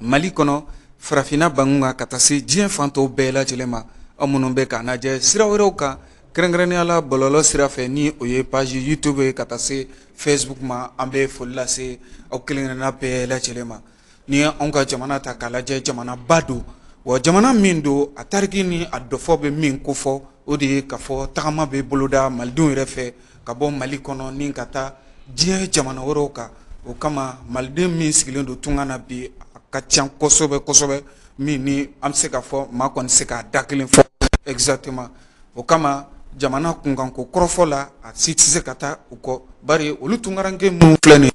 Mali kɔnɔ farafinna banku kan ka taa se diɲɛ fan tɔw bɛɛ lajɛlen ma aw minnu bɛ ka an lajɛ sira wɛrɛw kan kɛrɛnkɛrɛnnenya la bɔlɔlɔ sira fɛ ni o ye page YouTube ye ka taa se Facebook ma an bɛ foli lase aw kelenkelenna bɛɛ lajɛlen ma n'i ye anw ka jamana ta k'a lajɛ jamanaba don wa jamana min don a tariku ni a dɔfɔ bɛ min kofɔ o de ye k'a fɔ tagama bɛ boloda malidenw yɛrɛ fɛ ka bɔ mali kɔnɔ ni ka taa diɲɛ jamana wɛrɛw kan o kama maliden min sigilen don tunga na bi a ka ca kosɛbɛ kosɛbɛ min ni an bɛ se k'a fɔ maa kɔni se k'a da kelen fɔ exactement o kama jamana kunkanko kɔrɔfɔ la a si tɛ se ka taa u kɔ bari olu tungarankɛ minnu filɛ nin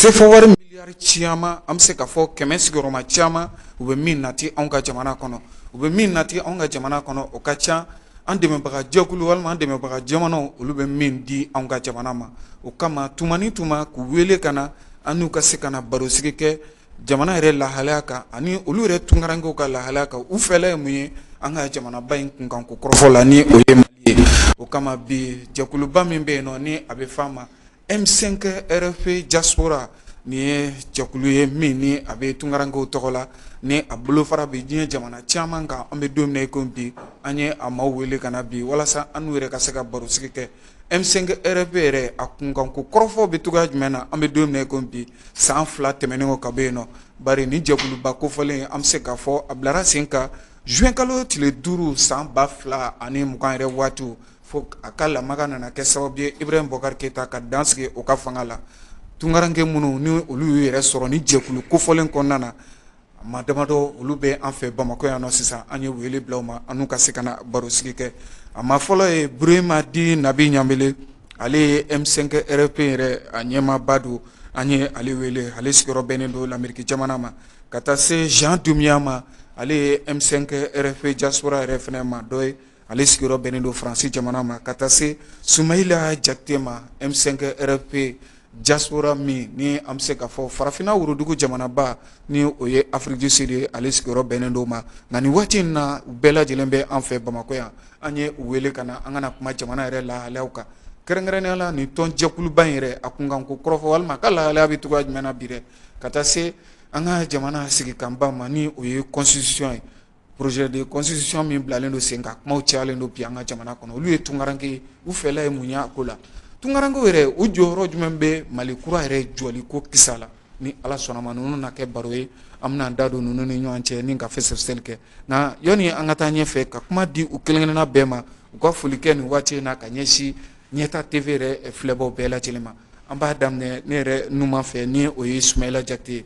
Sefa wari miliyari caman an bɛ se ka fɔ kɛmɛ sigiyɔrɔma caman u bɛ min nati anw ka jamana kɔnɔ u bɛ min nati anw ka jamana kɔnɔ o ka ca an dɛmɛbagajɛkulu walima dɛmɛbaga jamana olu bɛ min di anw ka jamana ma o kama tuma ni tuma k'u wele ka na an n'u ka se ka na barosigi kɛ jamana yɛrɛ lahalaya kan ani olu yɛrɛ tungarankɛ ka lahalaya kan u fɛla ye mun ye an ka jamanaba in kunkan ko kɔrɔfɔ la ni o ye o kama bi jɛkuluba min bɛ yen nɔ ni a bɛ fɔ a ma M5 RFP diaspora nin ye jɛkulu ye min ni a bɛ tungarankɛw tɔgɔ la ni a bolofara bɛ diɲɛ jamana caman kan an bɛ don ko bi an ye a ma wele ka na bi walasa an n'u yɛrɛ ka se ka barosigi kɛ M5 RFP yɛrɛ a kunkan ko kɔrɔfɔ bɛ cogoya jumɛn na an bɛ don ko bi san fila tɛmɛnen o ka bɔ yen nɔ bari nin jɛkuluba kofɔlen an bɛ se k'a fɔ a bilara sen kan zuwɛnkalo tile duuru san ba fila ani mugan yɛrɛ waatiw Fo a ka lamaga nana kɛ sababu ye ibrahim bɔkari keyita ka dan sigi o ka fanga la tungarankɛ minnu ni olu y'u yɛrɛ sɔrɔ nin jɛkulu kofɔlen kɔnɔna na maa damadɔ olu bɛ an fɛ bamakɔ yan na sisan an ye wele bila u ma an ka se ka na baro sigi kɛ a maa fɔlɔ ye burema dit nabi ɲanbele ale ye M5 RFP yɛrɛ a ɲɛmaaba don an ye ale wele ale sigiyɔrɔ bɛnnen don lamerike jamana ma ka taa se jan dunbiya ma ale ye M5 RFP diaspora yɛrɛ fana maa dɔ ye ale sigiyɔrɔ bɛnnen don faransi jamana ma ka taa se sumayila jakite ma M5 RFP diaspora min ni an bɛ se ka fɔ farafinna worodugu jamanaba ni o ye Afrique du Sud ye ale sigiyɔrɔ bɛnnen don ma nka nin waati in na u bɛɛ lajɛlen bɛ an fɛ bamakɔ yan an ye u wele ka na an ka na kuma jamana yɛrɛ lahalayaw kan kɛrɛnkɛrɛnnenya la nin tɔnjɛkuluba in yɛrɛ a kunkan ko kɔrɔfɔ walima a ka lahalaya bɛ cogoya jumɛn na bi dɛ ka taa se an ka jamana sigikanba ma ni o ye constitution ye Projet de constitution min bilalen don sen kan kuma cayalen don bi an ka jamana kɔnɔ olu ye tungarankɛ ye u fɛla ye mun y'a ko la tungarankɛ yɛrɛ u jɔyɔrɔ jumɛn bɛ mali kura yɛrɛ jɔli ko kisa la ni ala sɔnna ma ninnu na kɛ baro ye an bɛna an da don ninnu ni ɲɔgɔn cɛ ni ka fɛsɛsɛli kɛ nka yanni an ka taa ɲɛfɛ ka kuma di u kelenkelenna bɛɛ ma u ka foli kɛ nin waati in na ka ɲɛsin ɲɛta TV yɛrɛ filɛbaw bɛɛ lajɛlen ma an b'a daminɛ ne yɛrɛ numan fɛ ni o ye sumayila jakite ye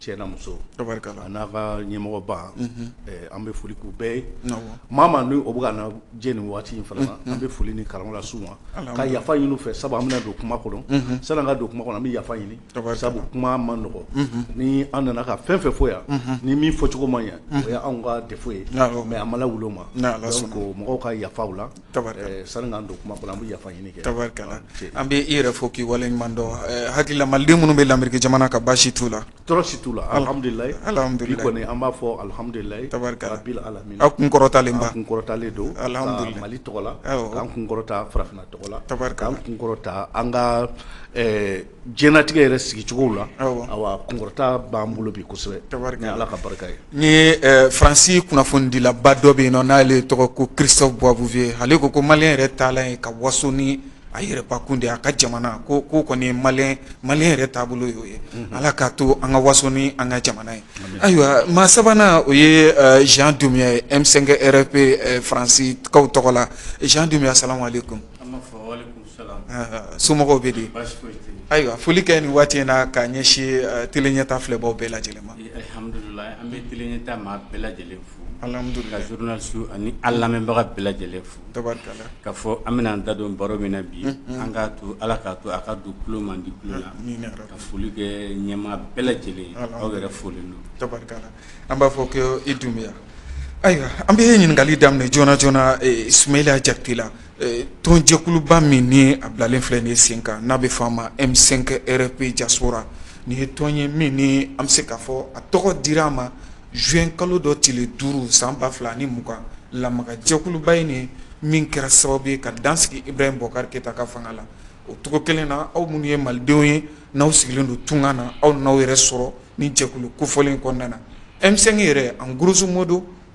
cɛ n'a muso n'a ka ɲɛmɔgɔba an bɛ foli k'u bɛɛ ye maa maa ni o bɛ ka na jɛ ni waati in fana na an bɛ foli ni karama lase u ma ka yafa ɲini u fɛ sabu an bɛna don kuma kɔnɔ sanni an ka don kuma kɔnɔ an bɛ yafa ɲini sabu kuma man nɔgɔ ni an nana ka fɛn fɛn fɔ yan ni min fɔcogo ma ɲɛ o ye anw ka défaut ye mais an ma lawuli o ma donc mɔgɔw ka yafa u la sanni an don kuma kɔnɔ an bɛ yafa ɲini kɛ tabarikala an bɛ i yɛrɛ fo k'i waleɲuman dɔn hakili la maliden minnu bɛ lameriki jamana kan baasi t'u la tɔɔrɔ si t'u la alihamudulayi alihamudulayi bi kɔni an b'a fɔ alihamudulayi tabarikala aw kun kɔrɔtalen ba an kun kɔrɔtalen don alihamudulayi mali tɔgɔ la an kun kɔrɔta farafinna tɔgɔ la tabarikala an kun kɔrɔta an ka diɲɛnatigɛ yɛrɛ sigicogo la kunkɔrɔta b'an bolo bi kosɛbɛ ni ala ka barika ye ni faransi kunnafonidilaba dɔ bɛ yen nɔ n'ale tɔgɔ ko Christophe Boisbouvier ale ko ko maliyɛn yɛrɛ taalan ye ka waso ni a yɛrɛbakun de a ka jamana ko kɔni maliyɛn yɛrɛ taabolo y'o ye ala k'a to an ka waso ni an ka jamana ye ayiwa maa sabanan o ye Jean Dumbiya ye M5 RFP faransikaw tɔgɔ la Jean Dumbiya salamu aleykum somɔgɔw bɛ di ayiwa foli kɛ ni waati in na k'a ɲɛsin tele ɲɛtaa filɛbaw bɛɛ lajɛlen ma alihamudulayi an bɛ tele ɲɛtaa maa bɛɛ lajɛlen fo ka journaliste ani an lamɛnbaga bɛɛ lajɛlen fo ka fɔ an bɛna an da don baro min na bi an ka to ala k'a to a ka don tulo man di tulo la ka foli kɛ ɲɛmaa bɛɛ lajɛlen aw yɛrɛ folen don an b'a fɔ ko i Dumbiya ayiwa an bɛ ye ɲininkali daminɛ joona joona Sumayila Jakite la Tɔnjɛkuluba min ni a bilalen filɛ nin ye sen kan n'a bɛ fɔ a ma M5 RFP diaspora nin ye tɔn ye min ni an bɛ se k'a fɔ a tɔgɔ dira a ma zuwɛn kalo dɔ tile duuru san ba fila ni mugan lamagajɛkuluba in nin min kɛra sababu ye ka dan sigi Ibrahim Boubacar Keita ka fanga la o cogo kelen na aw minnu ye malidenw ye n'aw sigilen don tunga na aw n'aw yɛrɛ sɔrɔ ni jɛkulu kofɔlen kɔnɔna na M5 yɛrɛ en grosso modo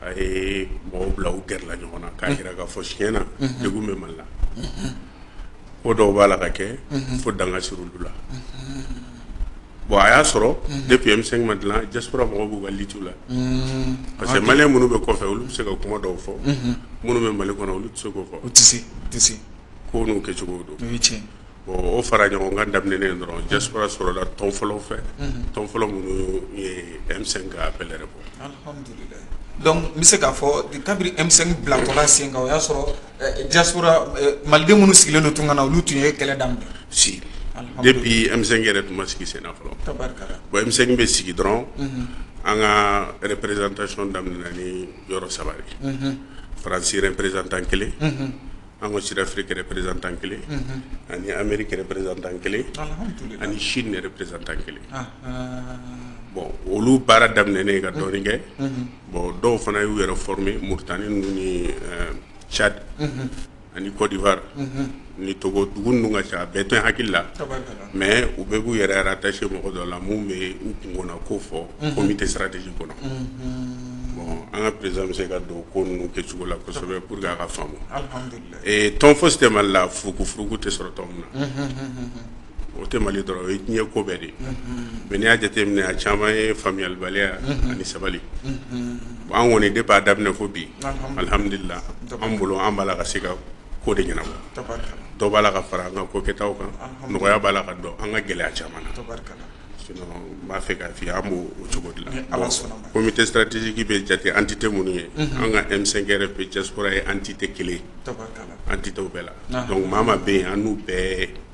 a ye mɔgɔw bila u gɛrɛla ɲɔgɔn na k'a jira k'a fɔ tiɲɛ na degun bɛ mali la ko dɔw b'a la ka kɛ fo dan ka sigi olu la bon a y'a sɔrɔ depuis M5 ma dilan diaspora mɔgɔw b'u ka lutte la parce que maliyɛn minnu bɛ kɔfɛ olu bɛ se ka kuma dɔw fɔ minnu bɛ mali kɔnɔ olu tɛ se k'o fɔ ko n'u kɛcogo don o fara ɲɔgɔn ka daminɛen dɔrɔn ja sɔrɔla tɔn fɔlɔ fɛ tɔn fɔlɔ minnu yemisɛn ka bɛɛ yɛrɛ bɔ n bɛ se k'a fɔ kabini emisɛn bilakola sen o y'a sɔrɔ ja maliden minnu sigilen don tun ka na olu tun ye kɛlɛ da si de bi emi yɛrɛ tun ma sigi sen fɔlɔmisɛn bɛ sigi dɔrɔn an ka yɛrɛereztay daminɛ ni yɔrɔ saba faransi yɛrɛ pereztan kelen An ko sira fili kɛlɛ perezan tan kelen ani an bɛ kɛlɛ perezan tan kelen ani si yɛrɛ perezan tan kelen bɔn olu baara daminɛen ye ka dɔɔnin kɛ bɔn dɔw fana y'u yɛrɛ f min mutani ninnu ni cadi ani kɔdifa ni tɔgɔ dugu ninnu ka ca bɛɛ tɛ hakilila mais u bɛɛ b'u yɛrɛ rattacher mɔgɔ dɔ la min bɛ u kun na ko fɔ comité stratégique kɔnɔ bon an ka président bɛ se ka don ko ninnu kɛcogo la kosɛbɛ pour que a ka faamu tɔn fosi tɛ mali la furukufuruku tɛ sɔrɔ tɔn min na o tɛ mali dɔrɔn o ye diɲɛ ko bɛɛ de ye mais n'i y'a jateminɛ a caman ye faamuyalibaliya ani sabali an kɔni depuis a daminɛ fo bi alihamdulilahi an bolo an b'a la ka se ka ko de ɲɛnabɔ dɔw b'a la ka fara an ka ko kɛtaw kan nɔgɔya b'a la ka don an ka gɛlɛya caman na sinon n b'a fɛ k'a f'i ye an b'o cogo de la comité stratégique bɛ jate entité minnu ye an ka M5 RFP diaspora ye entité kelen entitéw bɛɛ la donc maa maa bɛ yen an n'u bɛɛ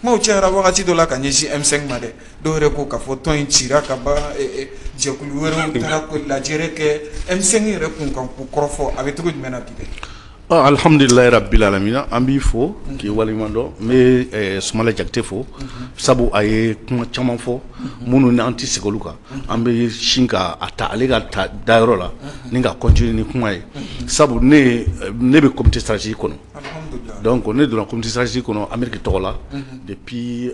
Kumaw cayara wagati dɔ la ka ɲɛsin M5 ma dɛ dɔw yɛrɛ ko k'a fɔ tɔn in cira ka ban jɛkulu wɛrɛw taara ka lajɛrɛ kɛ M5 yɛrɛ kun kan ko kɔrɔfɔ a bɛ cogo jumɛn na bi dɛ alihamdulilahi rabili alamina an b'i fo k'i waleɲumandɔn n bɛ Sumala Jakite fo sabu a ye kuma caman fɔ minnu ni an tɛ segin olu kan an bɛ sin ka a ta ale ka ta danyɔrɔ la ni ka continuer ni kuma ye sabu ne bɛ comité stratégique kɔnɔ Dɔnku ne donnatisasi kɔnɔ anmeri tɔgɔ la de bi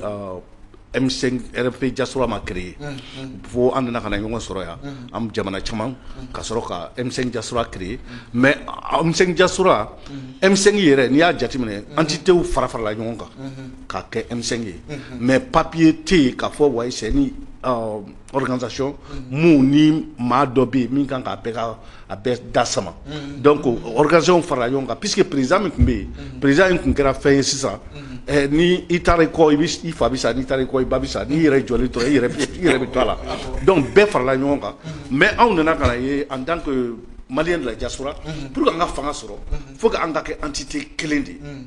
jaso ma kɛrɛre fo an nana ka na ɲɔgɔn sɔrɔ yan an jamana caman ka sɔrɔ ka e jasola kire mɛ jasola emisɛn yɛrɛ n'i y'a jateminɛ an tɛ te fara farala ɲɔgɔn kan ka kɛ emisɛn ye mɛ papiye tɛ yen ka fɔ wa organisation min ni maa dɔ bɛ yen min kan k'a bɛɛ a bɛɛ da sama donc organisation farala ɲɔgɔn kan puisque président min tun bɛ yen président in tun kɛra fɛn ye sisan ni i taara i kɔ i fa bɛ sa n'i taara i kɔ i ba bɛ sa n'i yɛrɛ jɔlen tora i yɛrɛ bɛ to a la donc bɛɛ farala ɲɔgɔn kan mais anw nana ka na ye en tant que malien de la diaspora pour que an ka fanga sɔrɔ il faut que an ka kɛ entité kelen de ye.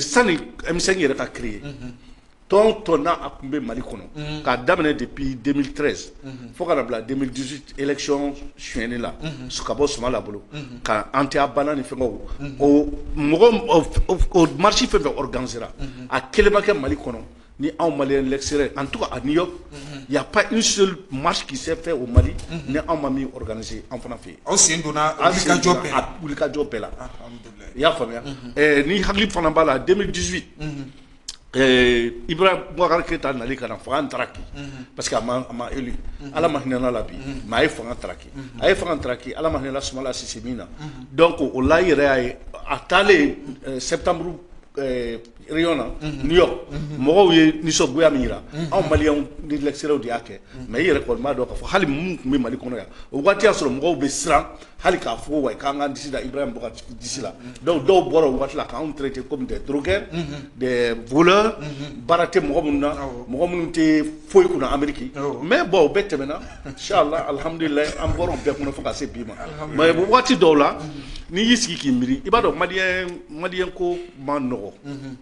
sanimisɛn yɛrɛ ka ki ye tɔn tɔn n' a tun bɛ mali kɔnɔ k'a daminɛ de bi den tɛ fo ka bila den dusu ecɔn sonni la su ka bɔ sumala bolo ka an tɛ banna ni fɛn mɔgɔ marisi fɛn fɛ ganse a kelenba kɛ mali kɔnɔ ni anw mali sera an tɔgɔ a ni ya marikisɛsɛ fɛ o mali ni anw ma min se an fana fɛ aw sen donna wulikajɔ bɛɛ la i y'a faamuya ni hakili fana b'a la den dusu i bɔra keyita nali ka na fo an taaraki parce que eli ala ma hinɛana la bi mɛ a ye fangaki a ye fangaki ala ma hinɛla sumala si min na dɔn ko o la yɛrɛ y'a ye a taalen sɛ tanmuru na New York mɔgɔw ye nisɔngoya min jira anw Maliens de l'extérieur de y'a kɛ mais i yɛrɛ kɔni b'a dɔn k'a fɔ hali minnu tun bɛ mali kɔnɔ yan o waati y'a sɔrɔ mɔgɔw bɛ siran hali k'a fɔ wa k'an k'an disi da Ibrahim Boubacar disi la donc dɔw bɔra o waati la k'an traité comme des drogués des voleurs baara tɛ mɔgɔ minnu na mɔgɔ minnu tɛ foyi kun Amérique mais bon o bɛɛ tɛmɛna inchallah alihamdulila an bɔra o bɛɛ kɔnɔ fo ka se bi ma mais waati dɔw la n'i y'i sigi k'i miiri i b'a dɔn mali malien ko ma nɔgɔ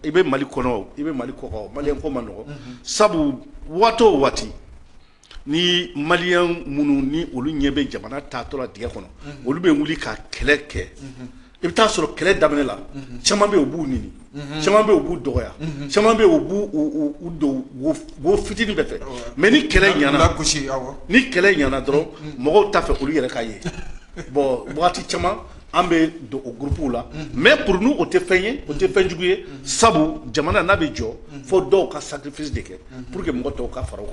i bɛ mali kɔnɔ i bɛ mali kɔkan malien ko ma nɔgɔ sabu waati o waati ni malien minnu ni olu ɲɛ bɛ jamana taatɔ la dingɛ kɔnɔ olu bɛ wuli ka kɛlɛ kɛ i bɛ taa a sɔrɔ kɛlɛ daminɛ la caman bɛ yen u b'u neni caman bɛ yen u b'u dɔgɔya caman bɛ yen u b'u don wo fitinin bɛɛ fɛ mais ni kɛlɛ ɲ gosi ni kɛlɛ ɲana dɔrɔn mɔgɔw t'a fɛ olu yɛrɛ ka ye bon waati caman an bɛ don o gurupw la mɛ purun o tɛ fɛn ye o tɛ fɛnjugu ye sabu jamana n'a bɛ jɔ fo dɔw ka safisi de kɛ pur que mɔgɔ tɔw ka fara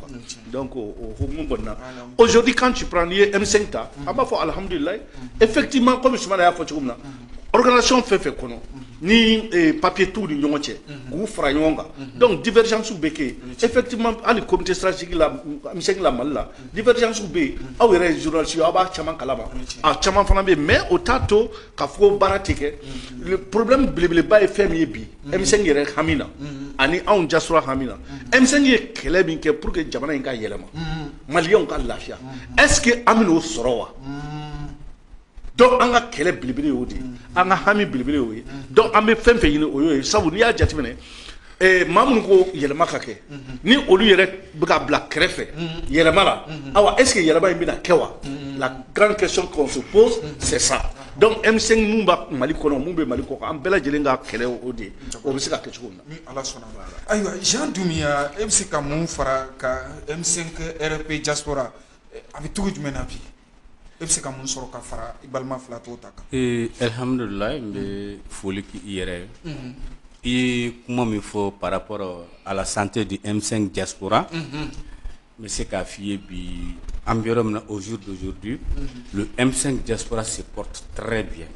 kan ko hkumu kɔnɔna ozodi kan cip n'i ye e bɛ ta a b'a fɔ alihamdulila e fɛti ma kɔmi suma y'a fɔ cogo min na okanasi fɛn fɛ kɔnɔ ni papiye tu ni ɲɔgɔn cɛ k'u fara ɲɔgɔn kan dɔnku difa bɛ kɛ e fɛti hali kɔmimte sarasigila mali la Divergence bɛ yen aw yɛrɛ ye journalistes ye aw b'a caman kalama a caman fana bɛ yen mais o t'a to k'a fɔ ko baara tɛ kɛ le problème belebeleba ye fɛn min ye bi M5 yɛrɛ hami na ani anw diaspora hami na M5 ye kɛlɛ min kɛ pour que jamana in ka yɛlɛma maliyɛnw ka lafiya est ce que an bɛn'o sɔrɔ wa donc an ka kɛlɛ belebele y'o de ye an ka hami belebele y'o ye donc an bɛ fɛn o fɛn ɲini o y'o ye sabu n'i y'a jateminɛ Eh, maa minnu ko yɛlɛma ka kɛ mhm. ni olu yɛrɛ bɛ ka bila kɛrɛfɛ mhm. yɛlɛma la mhm. awa est ce que yɛlɛma in bɛna kɛ wa la grande question qu'on se pose c'est ça donc M5 mun bɛ Mali kɔnɔ mun bɛ Mali kɔkan an bɛɛ lajɛlen ka kɛlɛ o de ye o bɛ se ka kɛ cogo min na. ni Ala sɔnna ma ayiwa Jean Dumbuya e bɛ se ka mun fara kan M5 RFP diaspora a bɛ cogo jumɛn na bi e bɛ se ka mun sɔrɔ ka fara i balima fila tɔw ta kan alihamdulila n bɛ foli k'i yɛrɛ ye i ye kuma min fɔ par rapport à la santé du M5 diaspora n bɛ se k'a f'i ye bi an bɛ yɔrɔ min na au jour d'aujourd'hui le M5 diaspora se porte très bien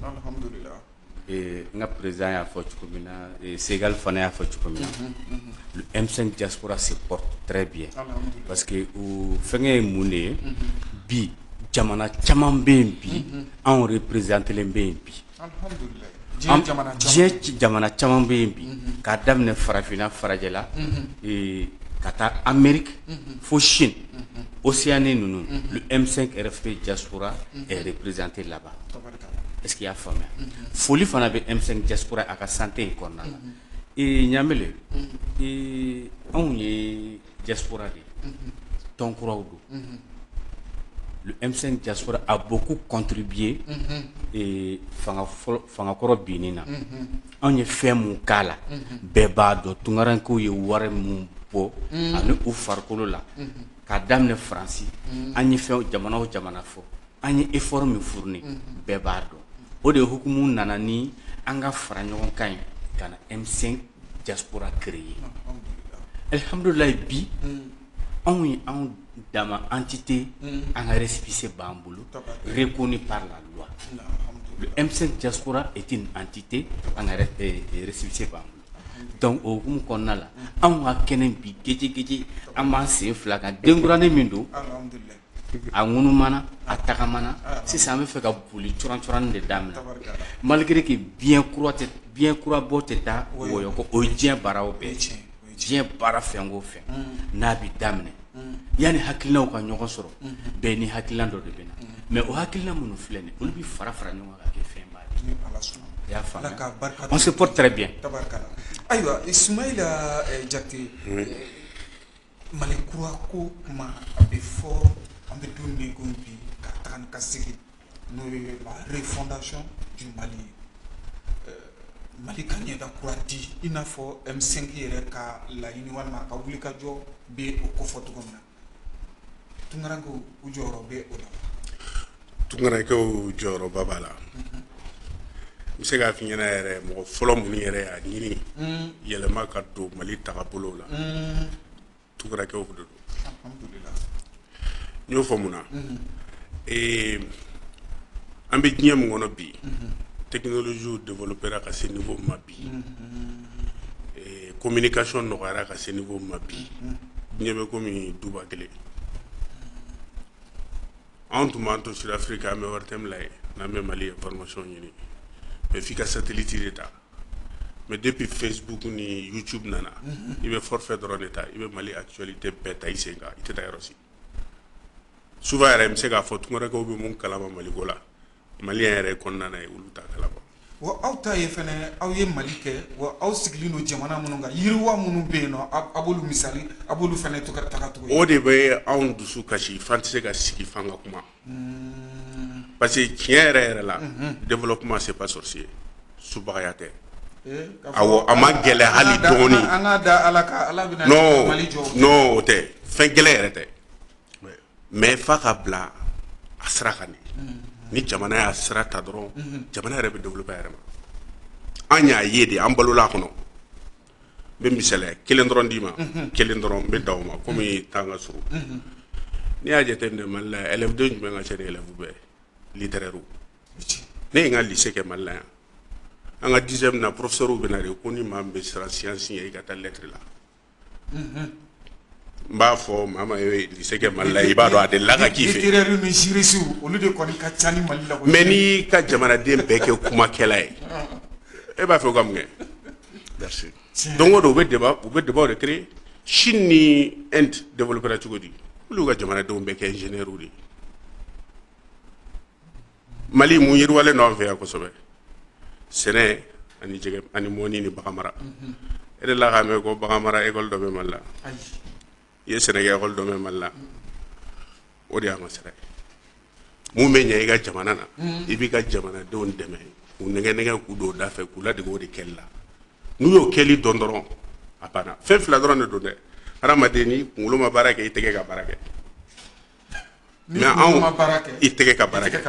Ee n ka président y'a fɔ cogo min na segali fana y'a fɔ cogo min na le M5 diaspora se porte très bien parce que fɛnkɛ ye mun de ye bi jamana caman bɛ yen bi anw représentélen bɛ yen bi diɲɛ jamana caman bɛ yen bi k'a daminɛ farafinna farajɛla ka taa Amérique fo Chine Océanie ninnu le M5 RFP diaspora est représenté là-bas est-ce qu'i y'a faamuya foli fana bɛ M5 diaspora a ka santé in kɔnɔna na ee ɲamɛlen anw ye diaspora de tɔn kuraw don le M5 diaspora a beaucoup contribué fangakɔrɔ binni na anw ye fɛn min k'a la bɛɛ b'a dɔn tunkarankew ye wari minnu bɔ ani u farikolo la k'a daminɛ faransi an ye fɛn jamana o jamana fɔ an ye effort min fourni unhun, bɛɛ b'a dɔn, o de hukumu nana ni an ka fara ɲɔgɔn kan ye ka na M5 diaspora créer alihamudulila bi anw ye anw dama entité an ka récépissé b'an bolo reconnu par la loi le M5 diaspora est une entité an ka récépissé b'an bolo donc o hukumu kɔnɔna la anw ka kɛnɛ bi gejegeje an b'an sen fila kan denkuranin min don a ŋunumana a tagamana sisan an bɛ fɛ ka boli curancuranni de daminɛ tabarikala malgré que biɲɛ kura tɛ biɲɛ kura bɔ tɛ taa Oui. wɔyɔ kɔ o ye diɲɛ baaraw bɛɛ ye tiɲɛ, o ye diɲɛ baara fɛn o fɛn n'a bɛ daminɛ yanni hakilinaw ka ɲɔgɔn sɔrɔ bɛɛ ni hakilina dɔ de bɛ na mais o hakilina minnu filɛ nin ye olu bɛ fara fara ɲɔgɔn kan ka kɛ fɛnba de ye ni ala sɔnna i y'a faamuya Ala ka barika on se porte très bien tabarikala ayiwa Ismaila eh, Jakite eh, Mali kura ko kuma a bɛ fɔ an bɛ don min ko bi ka taa ni ka segin n'o ye la refondation du mali ye mali ka ɲɛda kura di i n'a fɔ M5 yɛrɛ ka laɲini walima ka wuli ka jɔ bɛ o kofɔ cogo min na tunkarankew u jɔyɔrɔ bɛ o la tunkarankew jɔyɔrɔba b'a la n bɛ se k'a f'i ɲɛna yɛrɛ mɔgɔ fɔlɔ minnu yɛrɛ y'a ɲini yɛlɛma ka don mali tagabolo la tunkarankew de don n y'o fɔ mun na ee an bɛ diɲɛ min kɔnɔ bi technologie développera ka se niveau min ma bi ee communication nɔgɔyara ka se niveau min ma bi diɲɛ bɛ komi duba kelen Anw tun b'an to Sud-Afrique an bɛ ORTM lajɛ n'an bɛ Mali information ɲini mais f'i ka satellite de ta mais depuis Facebook ni YouTube nana unhun i bɛ forfait dɔrɔn de ta i bɛ Mali actualité bɛɛ ta i sen kan i tɛ taa yɔrɔ si souvent yɛrɛ n bɛ se k'a fɔ tunkarankew bɛ min kalama Maliko la maliyɛn yɛrɛ kɔnɔna na ye olu t'a kalama aw ta ye fana aw ye mali kɛ wa aw sigilen don jamana minnu kan yiriwa minnu bɛ yen nɔ a b'olu misali a b'olu fana to taga tugun o de bɛ anw dusu kasi f'an tɛ se ka sigi f'an ka kuma parce que tiɲɛ yɛrɛ yɛrɛ la développement c'est pas sorcier subagaya tɛ a a ma gɛlɛya hali dɔɔnin ala o tɛ fɛn gɛlɛn yɛrɛ tɛ mais f'a ka bila a sira kan de ni jamana y'a sira ta dɔrɔn jamana yɛrɛ bɛ développer a yɛrɛ ma an y'a ye de an balola a kɔnɔ n bɛ misali kelen dɔrɔn d'i ma kelen dɔrɔn n bɛ d'aw ma kɔmi temps ka surun n'i y'a jateminɛ mali la élève den jumɛn ka ca de élève bɛɛ littéraire ne ye n ka lycée kɛ mali la yan an ka dixième na professeur bɛ na de ko ni maa bɛ siran science ɲɛ i ka taa lettre la n b'a fɔ maa ma lycée kɛ mali la i b'a dɔn a delila ka k'i fɛ olu de kɔni ka ca ni mali la mais n'i ka jamanaden bɛɛ kɛ kumakɛla ye e b'a fɛ o ka mun kɛ don o don u bɛ u bɛ débat de créer Chine ni Inde développéra cogo di olu ka jamanadenw bɛɛ kɛ ingénieurw de ye Mali mun yiriwalen don an fɛ yan kosɛbɛ sɛnɛ ani jɛgɛ ani mɔnni ni bagan mara unhun e delila k'a mɛn ko bagan mara école dɔ bɛ Mali la ayi i ye sɛnɛkɛ école dɔ bɛ Mali la o de y'a masira ye mun bɛ ɲɛ i ka jamana na unhun i b'i ka jamanadenw dɛmɛ k'u nɛgɛ-nɛgɛ k'u don u da fɛ k'u ladege o de kɛli la n'u y'o kɛli dɔn dɔrɔn a banna fɛn 2 dɔrɔn de don dɛ hadamaden n'i kuŋolo ma baara kɛ i tɛgɛ ka baara kɛ Mais i tɛgɛ ka baara kɛ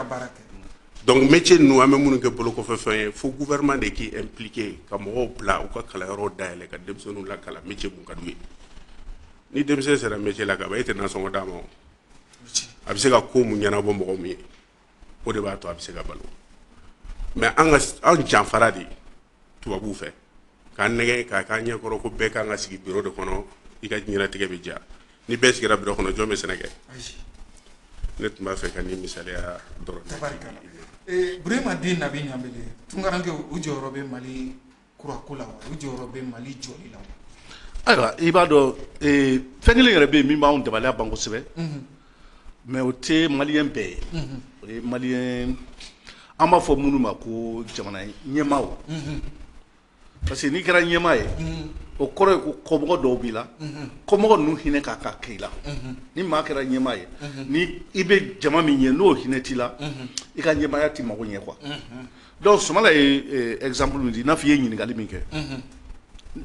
donc métier ninnu an bɛ minnu kɛ bolokɔfɛfɛn ye fo gouvernement de k'i impliquer ka mɔgɔw bila u ka kalanyɔrɔw dayɛlɛ ka denmisɛnninw lakalan métier mun ka d'u ye ni denmisɛn sera métier la ka ban e tɛ nasɔngɔ d'a ma o a bɛ se ka ko mun ɲɛnabɔ mɔgɔ min ye o de b'a to a bɛ se ka balo mais an ka anw janfara de tubabuw fɛ k'an nɛgɛn k'a k'a ɲɛkɔrɔ ko bɛɛ kan ka sigi biro de kɔnɔ i ka ɲɛnatigɛ bɛ diya ni bɛɛ sigira biro kɔnɔ jɔn bɛ sɛnɛ kɛ ne tun b'a fɛ ka nin misaliya dɔrɔn burama den na ɲanbele tunkaranke u jɔyɔrɔ bɛ mali kurako la wa u jɔyɔrɔ bɛ mali jɔli la wa ayiwa i b'a dɔn fɛn kelen yɛrɛ bɛ yen min b'an dabali ban kosɛbɛ Mais o tɛ maliyɛn bɛɛ ye o ye maliyɛn an b'a fɔ minnu ma ko jamana ɲɛmaaw parce que n'i kɛra ɲɛmaa ye o kɔrɔ ye ko kɔmɔgɔ dɔw b'i la kɔmɔgɔ ninnu hinɛ kan ka k'i la ni maa kɛra ɲɛmaa ye ni i bɛ jama min ɲɛ n'o hinɛ t'i la i ka ɲɛmaaya tɛ mako ɲɛ quoi donc sumala ye exemple min di n'a fɔ i ye ɲininkali min kɛ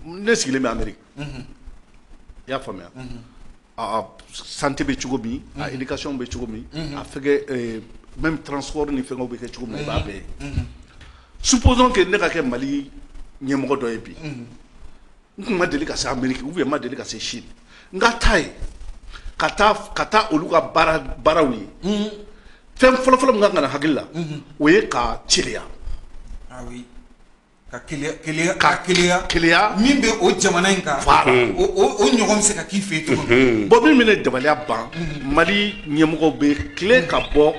ne sigilen bɛ i y'a faamuya a santé bɛ cogo min a éducation bɛ cogo min a fɛnkɛ même transport ni fɛnkɛw bɛ kɛ cogo min i b'a bɛɛ ye supposons que ne ka kɛ mali ɲɛmɔgɔ dɔ ye bi n tun ma deli ka se Amérique ou bien ma deli ka se Chine n ka taa yen ka taa olu ka baaraw ye fɛn fɔlɔfɔlɔ min ka kan ka na hakili la o ye ka keleya ka min bɛ o jamana in kan o ɲɔgɔn bɛ se ka k'i fɛ yen cogo min bon min bɛ ne dabaliya ban mali ɲɛmɔgɔw bɛ tilen ka bɔ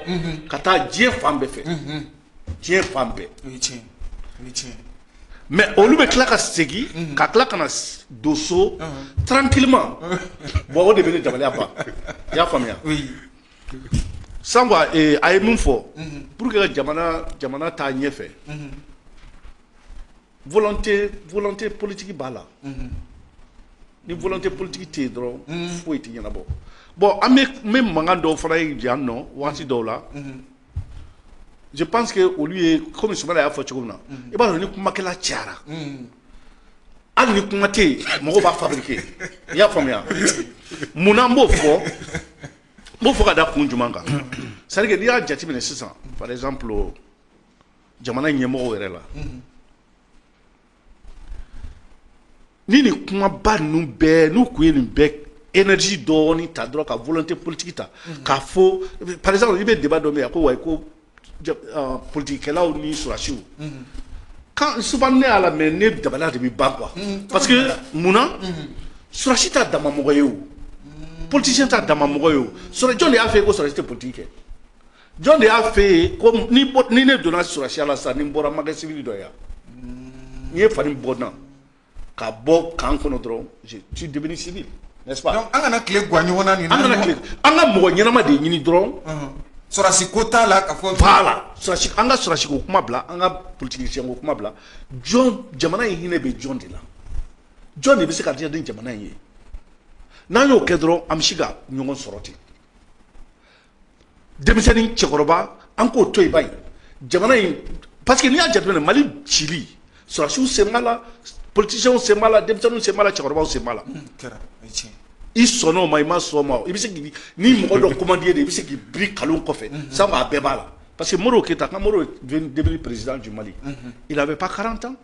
ka taa diɲɛ fan bɛɛ fɛ diɲɛ fan bɛɛ mais olu bɛ tila ka segin ka tila ka na don so tranquillement bon o de bɛ ne dabaliya ban i y'a faamuya sans quoi a ye min fɔ pour que jamana taa ɲɛfɛ volonté politique b'a la ni volonté politique tɛ yen dɔrɔn foyi tɛ ɲɛnabɔ bon an bɛ mankan dɔw fana ye yan nɔ waati dɔw la je pense que olu ye kɔmi Sumayila y'a fɔ cogo min na i b'a dɔn ni kumakɛla cayara hali ni kuma tɛ yen mɔgɔw b'a fabriquer i y'a faamuya mun na n b'o fɔ n b'o fɔ ka da kun jumɛn kan c'est à dire que n'i y'a jateminɛ sisan par exemple jamana ɲɛmɔgɔw yɛrɛ la ni nin kumaba ninnu bɛɛ n'u kun ye nin bɛɛ énergie dɔɔni ta dɔrɔn ka volonté politique ta k'a fɔ par exemple i bɛ débat dɔ mɛn a ko wayi ko politikikɛlaw ni sɔrɔsiw souvent ne y'a lamɛn ne dabali de bɛ ban quoi parce que munna sɔrɔsi t'adama mɔgɔ ye o politicien t'adama mɔgɔ ye o jɔn de y'a f'i ye ko sɔrɔsi tɛ politiki kɛ jɔn de y'a f'i ye ko ni ne donna sɔrɔsiya la sa ni n bɔra n ma kɛ civil dɔ ye ni n ye fani bɔ n na ka bɔ kan kɔnɔ dɔrɔn je suis devenu civil n'est-ce pas donc an kana tile gwan ɲɔgɔn na nin na an kana tile an ka mɔgɔ ɲɛnama de ɲini dɔrɔn sɔrɔsi ko t'a la ka fɔ voilà sɔrɔsi an ka sɔrɔsi ko kuma bila an ka politicien ko kuma bila jɔn jamana in hinɛ bɛ jɔn de la jɔn de bɛ se ka diya ni jamana in ye n'an y'o kɛ dɔrɔn an bɛ se ka ɲɔgɔn sɔrɔ ten denmisɛnnin cɛkɔrɔba an k'o to iba jamana in pa que n'i y'a jate mali cili sɔsiw sen la ptesiyɛnw sen la denmisɛnnin sen la cɛkɔrɔba sen la i sɔn o ma i ma sɔn ma i bɛ se ni mɔgɔ dɔ koden de i bɛ se k'i bi kalo kɔfɛ san a bɛɛ b'a la pa que mori keyita ka mori perezd ju i la bɛ pan kalanran tan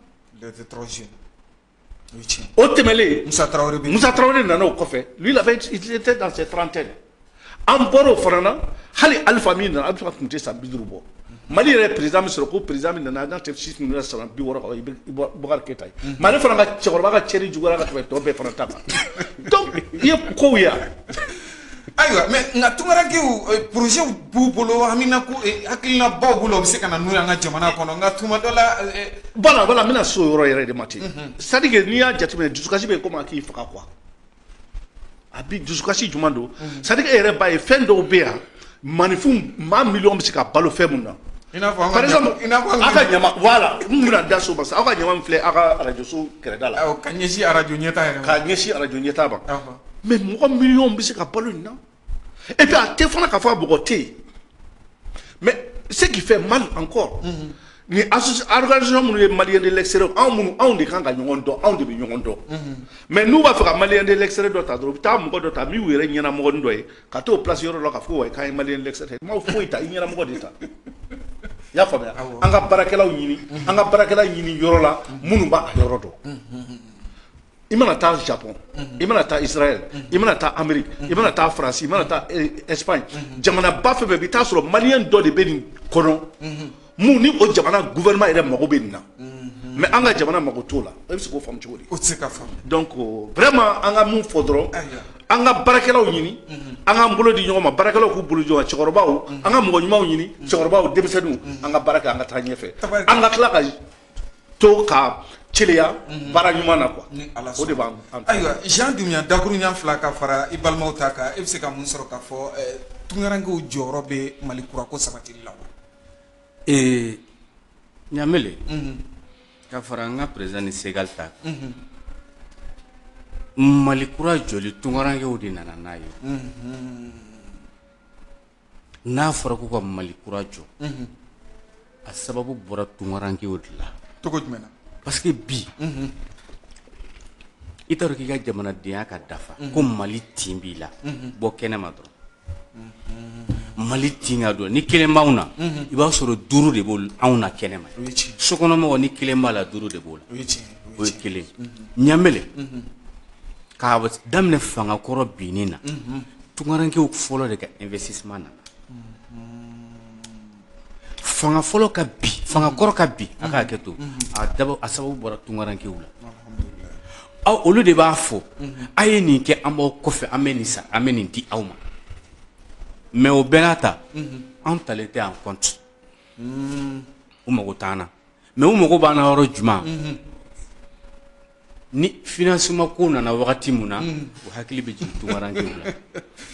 o tɛmɛlen musa tarawele nana o kɔfɛ lui il était dans ses trentaines an bɔra o fana na hali alifa min nana alifa tun tɛ san bi duuru bɔ mali yɛrɛ président min sɔrɔ ko président min nana tɛ si san bi wɔɔrɔ keïta ye mm-hmm. mais ale fana ka cɛkɔrɔba ka cɛnni jugu ka tɛmɛ tɔ bɛɛ fana ta kan i ye kow yan ayiwa mais nka tunkarankew eh, projet b'u bolo hamina ko eh, hakilinabaw bolo u bɛ se ka na n'u y'an ka jamana kɔnɔ nka tuma dɔ la eh, voilà voilà n bɛna so yɔrɔ yɛrɛ de ma ten mhm. c'est à dire que n'i y'a jateminɛ dusukasi bɛ komi a k'i faga quoi a bi dusukasi jumɛn don mhm. c'est à dire que e yɛrɛ b'a ye fɛn dɔw bɛ yan Maaninfin maa miliyɔn bɛ se ka balo fɛn min na i'a fɔ ka da so parce aw ka ɲama filɛ aw ka arajoso kɛrɛda la ka ɲɛsin arajo ɲɛ ka ɲɛsin arajo ɲɛtaa ma mais mɔgɔ miliyɔn bɛ se ka balo nin na et puis a tɛ fana k'a fɔ a mɔgɔ tɛ yen mais ce qui fait mal encore ni organisation minnu ye malien de l'extérieur anw de kan ka ɲɔgɔn dɔn anw de bɛ ɲɔgɔn dɔn mais n'u b'a fɛ ka malien de l'extérieur dɔ ta dɔrɔn u bɛ taa mɔgɔ dɔ ta min y'u yɛrɛ ɲɛnamɔgɔ dɔ ye ka t'o place yɔrɔ dɔ la ka fɔ ko k'an ye maliyɛn de l'extérieur ma foyi ta i ɲɛnamɔgɔ de ta i y'a faamuya an ka baarakɛlaw ɲini an ka baarakɛla ɲini yɔrɔ la minnu b'a yɔrɔ dɔn i mana taa Japon i mana taa Israël i mana taa Amérique i mana taa France i mana taa Espagne jamanaba fɛn fɛn bɛ i bɛ taa sɔrɔ maliyɛn dɔ de bɛ nin kɔnɔ. mun ni o jamana gouvernement yɛrɛ mago bɛ nin na mais an ka jamana mago t'o la e bɛ se k'o faamu cogo di o tɛ se ka faamu donc vraiment an ka mun fɔ dɔrɔn an ka baarakɛlaw ɲini an k'an bolo di ɲɔgɔn ma baarakɛlaw k'u bolo jɔ cɛkɔrɔbaw an ka mɔgɔ ɲumanw ɲini cɛkɔrɔbaw denmisɛnninw an ka baara kɛ an ka taa ɲɛfɛ an ka tila ka to ka celeya mhm. baara ɲuman na quoi o de b'an ayiwa jean dumbuya dakuruɲɛ fila ka fara i balimaw ta kan e bɛ se ka mun sɔrɔ k'a fɔ eh, tungarankew jɔyɔrɔ bɛ mali kurako sabatili la wa ee ɲamele ka fara an ka président ni segali ta mali kura jɔli tunkarankew de nana n'a ye n'a fɔra ko ka mali kura jɔ a sababu bɔra tunkarankew de la cogo jumɛn na parce que bi i t'a dɔn k'i ka jamanadenya ka dafa ko mali tin b'i la bɔ kɛnɛ ma dɔrɔn mali tin ka don ni kelen b'anw na i b'a sɔrɔ duuru de b'anw na kɛnɛ ma sokɔnɔmɔgɔ ni kelen b'a la duuru de b'o la o ye kelen ɲamele k'a daminɛ fanga kɔrɔ binni na tunkarankew fɔlɔ de ka investissement nana fanga fɔlɔ ka bin fanga kɔrɔ ka bin a ka hakɛ to a daba a sababu bɔra tunkarankew la aw olu de b'a fɔ a ye nin kɛ an b'aw kɔfɛ an bɛ nin san an bɛ nin di aw ma mais o bɛɛ n'a ta an talen tɛ en compte u mago t'an na mais u mago b'an na yɔrɔ jumɛn ni financement ko nana wagati min na u hakili bɛ jigin tunkarankew la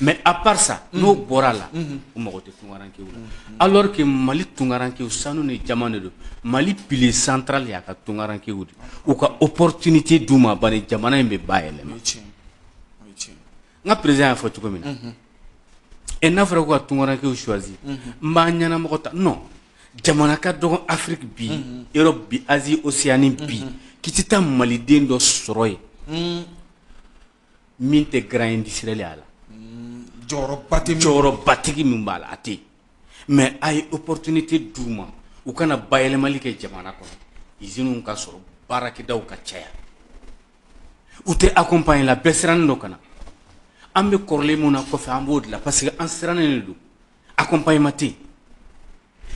mais à part ça n'o bɔra a la u mago tɛ tunkarankew la alors que mali tunkarankew sanu ni jaman de don mali pilier central y'a ka tunkarankew de u ka opportunité d'u ma bani jamana in bɛ bayɛlɛma n ka président y'a fɔ cogo min na et n'a fɔra ko ka tunkarankew choisir n b'a ɲɛnamɔgɔ ta non jamana ka dɔgɔn afrique bi europe bi asie océanie bi k'i tɛ taa maliden dɔ sɔrɔ yen min tɛ grand industriel y'a la jɔyɔrɔbatigi min b'a la a tɛ yen mais a ye opportunité d'u ma u ka na bayɛlɛmali kɛ jamana kɔnɔ iziniw ka sɔrɔ baarakɛdaw ka caya u tɛ accompagner la bɛɛ sirannen dɔ kana an bɛ kɔrɔlen min na kɔfɛ an b'o de la parce que an sirannen de don accompagnement tɛ yen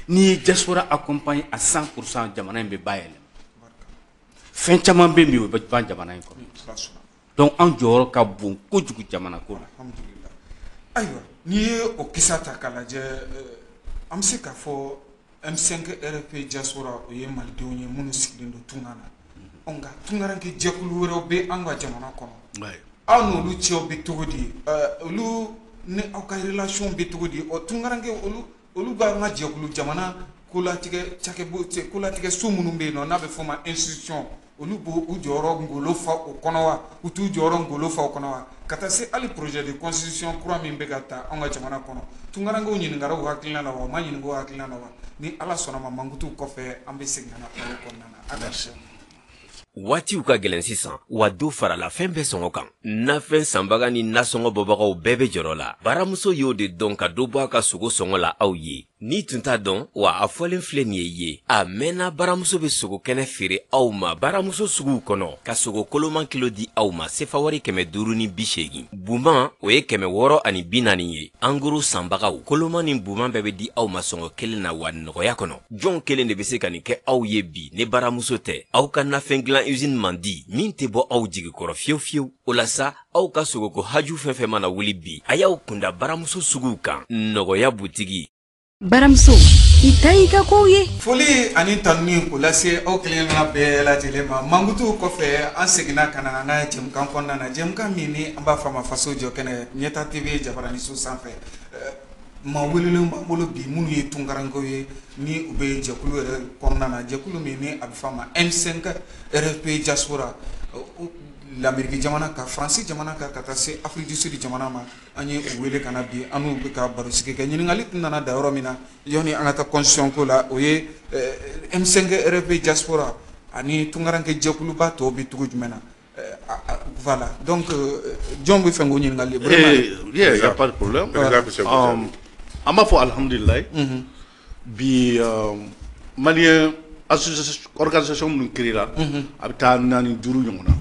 n'i ye diaspora accompagner à cent pour cent jamana in bɛ bayɛlɛma fɛn caman bɛ yen bi o bɛ ban jamana in kɔnɔ donc an jɔyɔrɔ ka bon kojugu jamana ko la ayiwa n'i ye o kisa ta k'a lajɛ an bɛ se k'a fɔ M5 RFP diaspora o ye malidenw ye minnu sigilen don tunga na nka tunkaranke jɛkulu wɛrɛw bɛ an ka jamana kɔnɔ aw n'olu cɛw bɛ cogo di olu ni aw ka relation bɛ cogo di o tunkaranke olu olu bɛ an ka jɛkulu jamana kolatigɛ cakɛ kolatigɛ so minnu bɛ yen n'a bɛ fɔ o ma institution olu b'u jɔyɔrɔ ngolo fa o kɔnɔ wa u t'u jɔyɔrɔ ngolo fa o kɔnɔ wa ka taa se hali projet de constitution kura min bɛ ka taa an ka jamana kɔnɔ tunkarankew ɲininkara u hakilina na wa u ma ɲininka u hakilina na wa ni ala sɔnna ma mankutu kɔfɛ an bɛ segin ka na o kɔnɔna na ala waatiw ka gɛlɛn sisan wa dɔ farala fɛn bɛɛ sɔngɔ kan nafɛn sanbaga ni nasɔngɔ bɔbagaw bɛɛ bɛ jɔrɔ la baramuso y'o de dɔn ka dɔ bɔ a ka sogo sɔngɔ la aw ye n'i tun t'a dɔn wa a fɔlen filɛ nin ye ye a mɛnna baramuso bɛ sogo kɛnɛ feere aw ma baramuso suguw kɔnɔ ka sogo koloman kilo di aw ma sefawari kɛmɛ duuru ni bi seegin buman o ye kɛmɛ wɔɔrɔ ani bi naani ye en gros sanbagaw koloman ni buman bɛɛ bɛ di aw ma sɔngɔ kelen na wa nɔgɔya kɔnɔ jɔn kelen de bɛ se ka nin kɛ aw ye bi ni baramuso tɛ aw ka nafɛn dilan usine mandi min tɛ bɔ aw jigi kɔrɔ fiyewu fiyewu o la sa aw ka sogoko haju fɛn fɛn mana wuli bi a y'aw kunda baramuso suguw kan nɔgɔya butigi baramuso i ta y'i ka kow ye foli ani tanuni k'o lase aw kelenkelenna bɛɛ lajɛlen ma mankutuw kɔfɛ an seginna ka na an ka jɛmukan kɔnɔna na jɛmukan min ni an b'a fɔ a ma faso jɔ kɛnɛ ɲɛta tv jabaraniso sanfɛ maa welelenw b'an bolo bi minnu ye tunkarankew ye ni u bɛ jɛkulu yɛrɛ kɔnɔna na jɛkulu min ni a bɛ fɔ a ma M5 RFP diaspora Lameriki jamana ka faransi jamana kan ka taa se Afrique du Sud jamana ma an ye u wele ka na bi an n'u bɛ ka barosigi kɛ ɲininkali tun nana da yɔrɔ min na yani an ka taa constitution ko la o ye M5 RFP diaspora ani tungaranke jɛkuluba tɔw bɛ cogo jumɛn na voilà donc jɔn bɛ fɛ k'o ɲininkali an b'a fɔ alihamdulila Bi mali aliz minnu ki la a bɛ taa naani duuru ɲɔgɔn na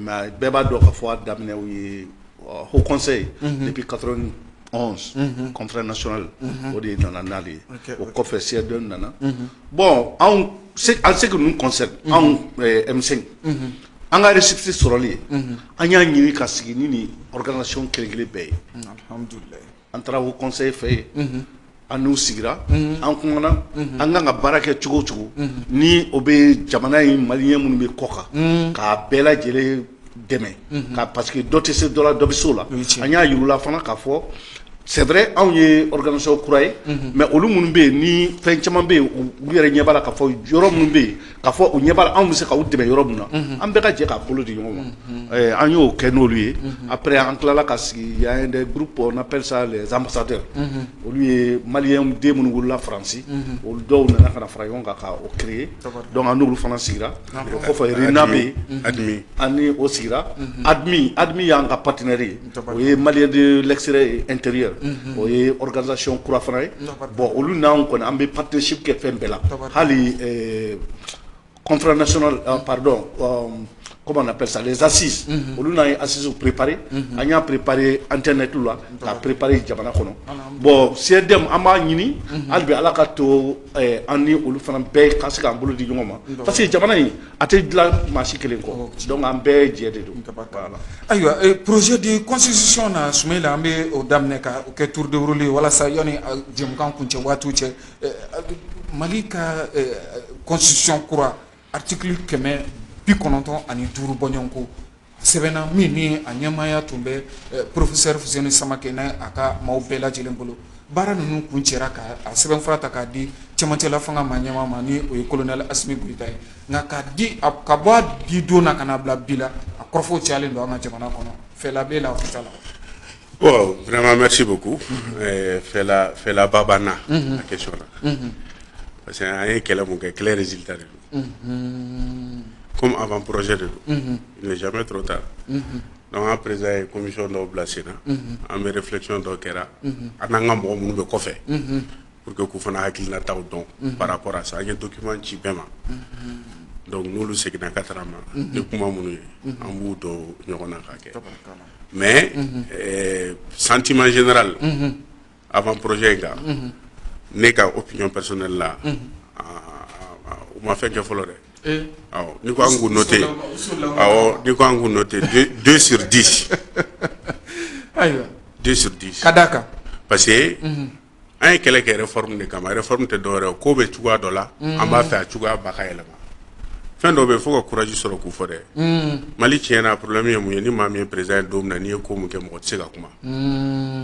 mɛ bɛɛ b'a dɔn ka fɔ a daminɛ ye hɔɔnse ye ne bɛ ka kɔnfɛ na sli o de ye nana naale ye o kɔfɛ sɛdon nana bɔn an se ninnu kɔsɛ anw an ka sisi sɔrɔlen ye an y'a ɲini ka sigi ni ni kelen kelen bɛɛ ye an taara Haut Conseil fɛ yen an n'u sigira an kumana an kan ka baara kɛ cogo cogo ni o bɛ jamana ye maliyɛn minnu bɛ kɔ kan k'a bɛɛ lajɛlen dɛmɛ ka parce que dɔ tɛ se dɔ la dɔ bɛ se o la an y'a yir'u la fana k'a fɔ c'est vrai anw ye organisation kura ye mais olu minnu bɛ yen ni fɛn caman bɛ yen u yɛrɛ ɲɛ b'a la k'a fɔ yɔrɔ minnu bɛ yen k'a fɔ u ɲɛ b'a la anw bɛ se k'u dɛmɛ yɔrɔ min na an bɛɛ ka jɛ k'a bolo di ɲɔgɔn ma Ɛɛ, an y'o kɛ n'olu ye après an tilala ka sigi y a des groupes on appelle ça les ambassadeurs olu ye maliyɛn den minnu wolola faransi olu dɔw nana ka na fara ɲɔgɔn kan ka o créer donc an n'olu fana sigira o kɔfɛ RINA bɛ yen an ni o sigira admi admi y'an ka partenaire ye o ye mali de lɛsirare n teri ye o ye ganzcɔn kura fana ye bɔn olu n'an kɔni an bɛ patesi kɛ fɛn bɛɛ la hali kɔnfna padɔ kɔ na psa zsi olu n'a ye asisi ppɛpri an y'a ppɛpri an tɛ tu la ka ppɛpri jamana kɔnɔ bɔn sɛd an b'a ɲini hali bɛ ala ka to an ni olu fana bɛɛ ka se k'an bolo di ɲɔgɔn ma parce que jamana in A tɛ dilan maa si kelen kɔ donc an bɛɛ jɛ de don ayiwa projet de constitution na Sumayila an bɛ o daminɛ ka o kɛ tour de rôle walasa yani jɛmukan kuncɛ waatiw cɛ mali ka constitution kura article kɛmɛ bi kɔnɔntɔn ani duuru bɔɲɔgɔnko sɛbɛnna min ni a ɲɛmaaya tun bɛ professeur Fuseni Samake n'a ka maaw bɛɛ lajɛlen bolo baara ninnu kuncɛra ka a sɛbɛnfura ta k'a di cɛmancɛla fanga maa ɲɛmaa ma ni o ye colonel Asimi Goyita ye nka k'a di ka bɔ a di don na ka na bila bi la a kɔrɔfɔw cayalen don an ka jamana kɔnɔ fɛla bɛ la vraiment merci beaucoup fɛlaba banna la question là parce que an ye kɛlɛ min kɛ kɛlɛ résultat kɔmi a b'an pjɛ de don zme dɔrɔn ta an'a perez ye komisɔn dɔw bila sen na an bɛ fulacon dɔw kɛra an n'an ka mɔgɔ minnu bɛ kɔfɛ pur que k' fana hakilikiinata dɔn baara kɔrɔ sa an ye dɔki ci bɛɛ ma dɔnku n'olu seginna ka taga ma ni kuma minnu ye an b'u dɔn ɲɔgɔn na ka kɛ mɛ santiman zra la avant-projet in kan ne ka opinion personnelle la u ma fɛn kɛ fɔlɔ dɛ ni ko an k'u noter awɔ ni ko an k'u noter deux sur dix deux sur dix ka d'a kan parce que an ye kɛlɛ kɛ réforme de kama réforme tɛ dɔ wɛrɛ ko bɛ cogoya dɔ la an b'a fɛ a cogoya ba ka yɛlɛma fɛn dɔ bɛ fo ka courage sɔrɔ k'u fɔ dɛ mali tiɲɛna problème ye mun ye ni maa min ye président ye don na n'i ye ko mun kɛ mɔgɔ tɛ se ka kuma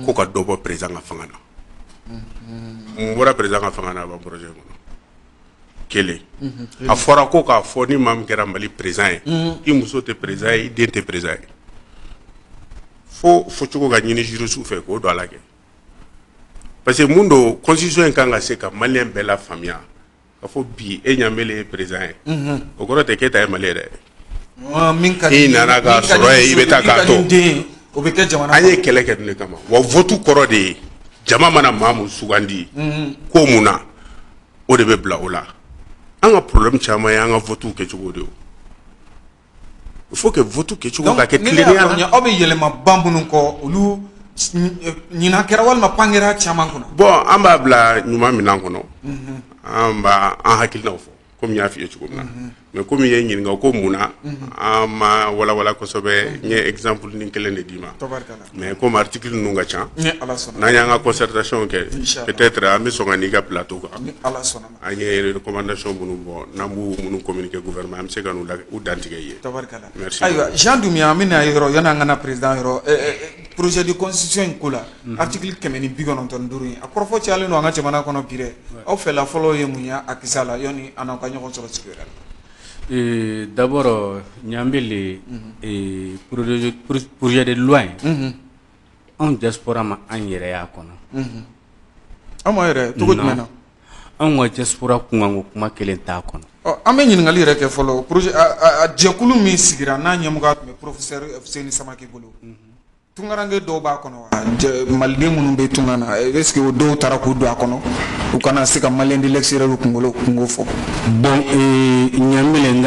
ko ka dɔ bɔ président ka fanga na n bɔra président ka fanga na avant-projet kɔnɔ kelen a fɔra ko k'a fɔ ni maa min kɛra mali président ye i muso tɛ président ye i den tɛ président ye fo fɔcogo ka ɲini juristes fɛ k'o don a la kɛ parce que mun don constitution in kan ka se ka malien bɛɛ lafaamuya A fɔ bi e Ɲanbele ye président ye o kɔrɔ tɛ k'e ta ye mali ye dɛ i nana k'a sɔrɔ yen i bɛ taa k'a to o bɛ kɛ jamana an ye kɛlɛ kɛ ninnu de kama wa vote kɔrɔ de ye jama mana maa min sugandi ko min na o de bɛ bila o la an ka problème caman ye an ka vote kɛcogo de il faut que vote kɛcogo ka kɛ tilennenya la aw bɛ yɛlɛma ba minnu kɔ olu ɲinan kɛra walima pan kɛra caman kunna bon an b'a bila ɲuman minɛn kɔnɔ mhm. an b'a an hakilinaw fɔ komi y'a f'i ye cogo min na mhm. mais komi i ye n ɲininka ko mun na mhm. an m'a walawala kosɛbɛ n ye exemple ni kelen de d'i ma mais komi article ninnu ka ca n'an y'an ka concertation kɛ peut-être an bɛ sɔn ka n'i ka plateau kan an ye recommandation minnu bɔ n'an bɛ minnu communiquer gouvernement an bɛ se ka n'u u dantigɛ ye. Tabarikala. Merci. Ayiwa Jean Dumbuya an bɛ na yɔrɔ yani an ka na président yɔrɔ ɛ ɛ projet de constitution in ko la. Unhun. Article kɛmɛ ni bi kɔnɔntɔn ni duuru in a kɔrɔfɔ cayalen don an ka jamana kɔnɔ bi dɛ. Ouais. Aw fɛla fɔlɔ ye mun ye a kisɛ la yani an n'aw ka ɲɔgɔn sɔrɔ sigi la? Ee d'abord Ɲanbele ee projet de loi in. Unhun. anw diaspora ma an yɛrɛ ye a kɔnɔ anw yɛrɛ cogo na anw ka diaspora kunkan kuma kelen t'a kɔnɔ an bɛ ɲininkali yɛrɛ kɛ fɔlɔ jɛkulu min sigira n'a ɲɛmɔgɔ tun bɛ professeur Fuseni samakɛ bolo tungarankɛ dɔw b'a kɔnɔ wa maliden minnu bɛ tunga na est-ce que o dɔw taara k'u don a kɔnɔ u ka na se ka malien de l'extérieur kunko fɔ bon Ɲanbele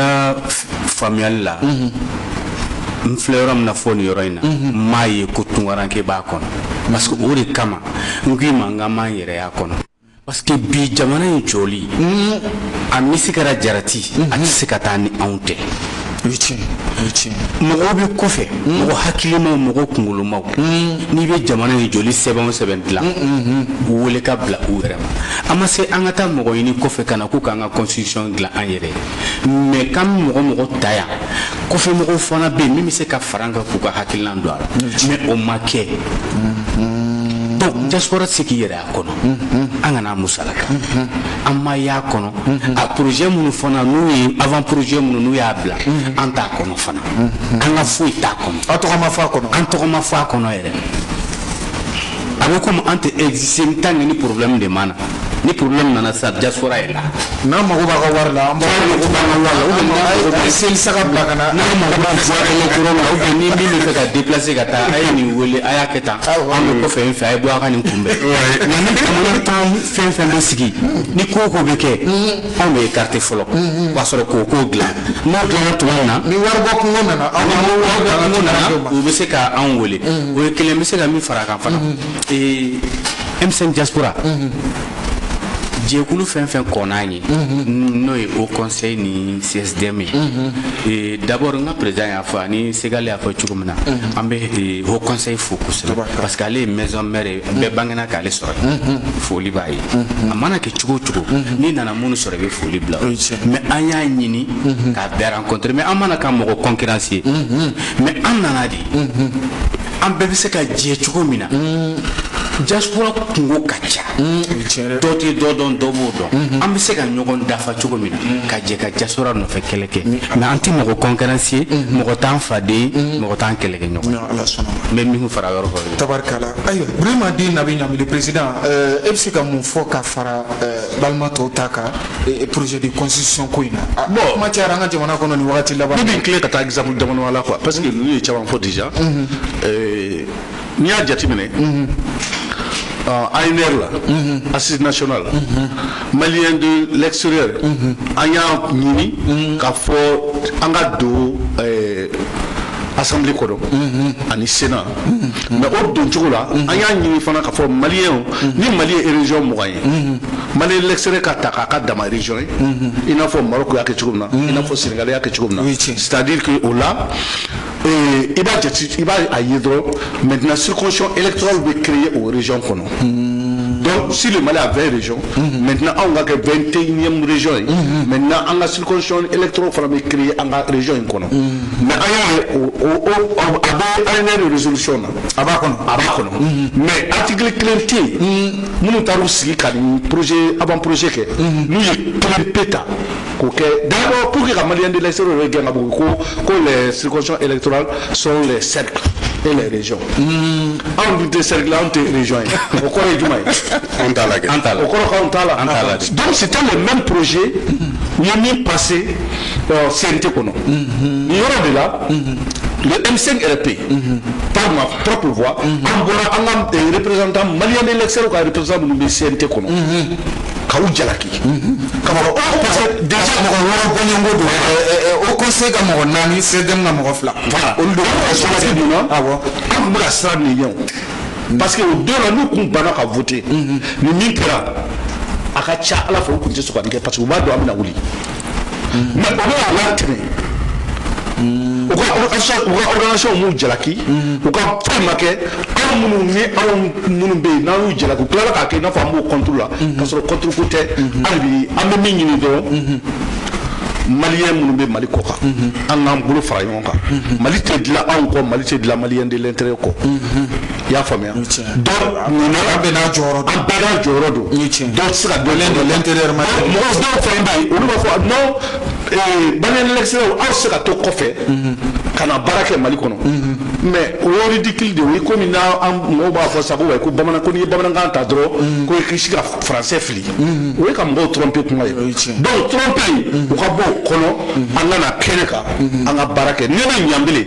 faamuyali la n filɛ yɔrɔ min na fɔ nin yɔrɔ in na n m'a ye ko tunkaranke b'a kɔnɔ parce que o de kama n k'i ma n k'an m'an yɛrɛ y'a kɔnɔ parce que bi jamana in jɔli a misi kɛra jarati a tɛ se ka taa ni anw tɛ mɔgɔw bɛ kɔfɛ mɔgɔ hakilimaw mɔgɔ kunkolomaw n'i bɛ jamana in jɔli sɛbɛn o sɛbɛn dilan u wele k'a bila u yɛrɛ ma an ma se an ka taa mɔgɔ ɲini kɔfɛ ka na ko k'an ka constitution dilan an yɛrɛ ye mais k'an bɛ mɔgɔ mɔgɔ ta yan kɔfɛ mɔgɔw fana bɛ yen min bɛ se ka fara an kan k'u ka hakilinan don a la mais o ma kɛ donc diaspora tɛ se k'i yɛrɛ y'a kɔnɔ an kana musalaka an ma y'a kɔnɔ a projet minnu fana n'u ye avant projet minnu n'u y'a bila an t'a kɔnɔ fana an ka foyi t'a kɔnɔ an tɔgɔ ma fɔ a kɔnɔ an tɔgɔ ma fɔ a kɔnɔ yɛrɛ a bɛ komi an tɛ exister en tant que ni problème de ma na ni problème nana sa diaspora est là n'an mago b'a ka wari la an b'a mago b'an ka wari la ou bien n'an mago b'a seli saga bila ka na n'an mago b'a voix électorale la ou bien ni min bɛ fɛ ka déplacer ka taa a ye nin wele a y'a kɛ tan an bɛ kɔfɛ in fɛ a ye bɔ a ka nin kunbɛn nka ni jamana tan fɛn fɛn bɛ sigi ni ko o ko bɛ kɛ anw bɛ écarter fɔlɔ o b'a sɔrɔ k'o kow dilan n'o dilanna tuma min na ni waribɔ kungo nana aw ni waribɔ kungo nana u bɛ se ka anw wele o ye kelen n bɛ se ka min fara a kan fana ee M5 diaspora jɛkulu fɛn fɛn kɔnna yen n'o ye haut conseil ni CSDM ye d'abord n ka président y'a fɔ ani Segali y'a fɔ cogo min na an bɛ haut conseil fo kosɛbɛ parce que ale ye maison mère ye bɛɛ bangena k'ale sɔrɔ foli b'a ye a mana kɛ cogo o cogo n'i nana minnu sɔrɔ i bɛ foli bila mais an y'a ɲini k'a bɛɛ rencontrer mais an ma na ka mɔgɔ concurrence ye mais an nana de an bɛɛ bɛ se ka jɛ cogo min na diaspora kungo ka ca dɔ tɛ dɔ dɔn dɔ b'o dɔn an bɛ se ka ɲɔgɔn dafa cogo min na ka jɛ ka diaspora nɔfɛ kɛlɛ kɛ mais an tɛ mɔgɔ concurrence ye mɔgɔ t'an faden ye mɔgɔ t'an kɛlɛkɛ ɲɔgɔn n bɛ min fara yɔrɔ tabarikala ayiwa Burama Den Nabi Ɲami le président euh, e bɛ se ka mun fɔ ka fara euh, balima tɔw ta kan projet de constitution ko in na ah, bon kuma cayara an ka jamana kɔnɔ nin wagati laban ne bɛ n tilen ka taa exemple damadama la quoi parce que ninnu ye caman fɔ déjà mhm. euh, n'i y'a jateminɛ mhm. ANR la mhm. assise nationale malien de l'extérieur an y'a ɲini k'a fɔ an ka don assemblée kɔnɔ ani sénat mais o doncogo la an y'a ɲini fana k'a fɔ mali ye ni mali ye région mugan ye malien de l'extérieur ka ta ka k'a dama région ye i n'a fɔ Maroc y'a kɛ cogo min na i n'a fɔ Sénégal y'a kɛ cogo min na c'est-à-dire o la i b'a jate i b'a ye dɔrɔn maintenant circonscription électorale bɛ créer o région kɔnɔ donc si le Mali a 20 régions maintenant anw ka kɛ 21e région ye maintenant an ka circonscription électorale fana bɛ créer an ka région in kɔnɔ mais an y'a ye a bɛ ANR de résolution na a b'a kɔnɔ a b'a kɔnɔ mais article kelen tɛ yen minnu taar'u sigi ka nin projet avant-projet kɛ n'u ye kelen pe ta k'o kɛ d'abord pour que ka malien de l'extérieur yɛrɛ gɛn ka bɔ ko ko les circonscriptions électorales sont les cercles et les régions anw dun tɛ cercle anw tɛ région ye o kɔrɔ ye jumɛn ye an t'a la kɛ an t'a la o kɔrɔ k'anw t'a la an t'a la donc c'était le même projet u ye min passer ɔ CNT kɔnɔ nin yɔrɔ de la le M5 RFP par ma propre voix an bɔra an ka eh, représentant malien de l'extérieur ka représentant minnu bɛ CNT kɔnɔ ka u jalaki ka mɔgɔ parce que déjà mɔgɔ wɔɔrɔ bɔɲɔgɔnko don Haut conseil ka mɔgɔ naani CSDM ka mɔgɔ fila olu de bɛ sɔrɔ mun na awɔ an tun bɛ ka siran nin ɲɛ o parce que o don na n'u kun banna ka voter ni min kɛra a ka ca ala fɛ u tun tɛ sɔn ka nin kɛ parce que u b'a dɔn an bɛna wuli mais o bɛɛ y'a latɛmɛ u ka u ka organisation m'u jalaki u ka foyi ma kɛ anw minnu ni anw minnu bɛ yen n'an y'u jalaki u tilala k'a kɛ i n'a fɔ an b'u contre la k'a sɔrɔ contre ko tɛ hali bi an bɛ min ɲini dɔrɔn malien minnu bɛ mali kɔkan an k'an bolo fara ɲɔgɔn kan mali tɛ dilan anw kɔ mali tɛ dilan malien de l'intérieur kɔ i y'a faamuya donc mun na an bɛɛ n'a jɔyɔrɔ don an bɛɛ n'a jɔyɔrɔ don dɔw tɛ se ka dɔ ɲɛ dɔn l'intérieur ma mɔgɔ dɔw fana bɛ yen olu b'a fɔ non ee malien de l'extérieur aw tɛ se ka to kɔfɛ ka na baara kɛ mali kɔnɔ mais o ye ridicule de ye o ye komi n'an mɔgɔw b'a fɔ sa ko ko bamanan ko n'i ye bamanankan ta dɔrɔn ko i k'i si ka français fili mhm. o ye ka mɔgɔw tromper kuma ye donc tromper mhm. u ka bɔ o kɔnɔ mhm. an ka na kɛnɛ kan an ka baara kɛ ni ne Ɲanbele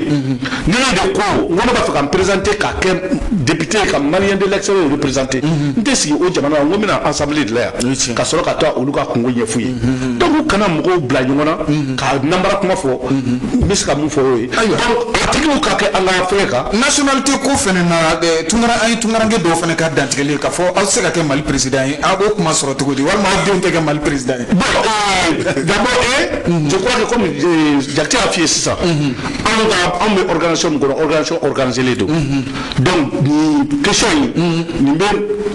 ne de ko n ko ne b'a fɛ ka n présenter ka kɛ député ka malien de l'extérieur représenter n tɛ sigi o jamana la n ko n bɛ na assemblée de la yan ka sɔrɔ ka taa olu ka kunko ɲɛf'u ye donc u kana mɔgɔw bila ɲɔgɔn na ka nanbara kuma fɔ n bɛ se ka min fɔ o ye donc a tigiw ka kɛ an ka fɛn kan nationalité ko fana na tunkaran an ye tunkaranke dɔw fana ka dantigɛ kelen ka fɔ aw tɛ se ka kɛ mali président ye aw b'o kuma sɔrɔ cogo di walima aw denw tɛ kɛ mali président ye. bon d'abord ee je crois que comme Jakite y'a f'i ye sisan anw ka anw bɛ organisation min kɔnɔ organisation organiselen don donc nin question in nin bɛ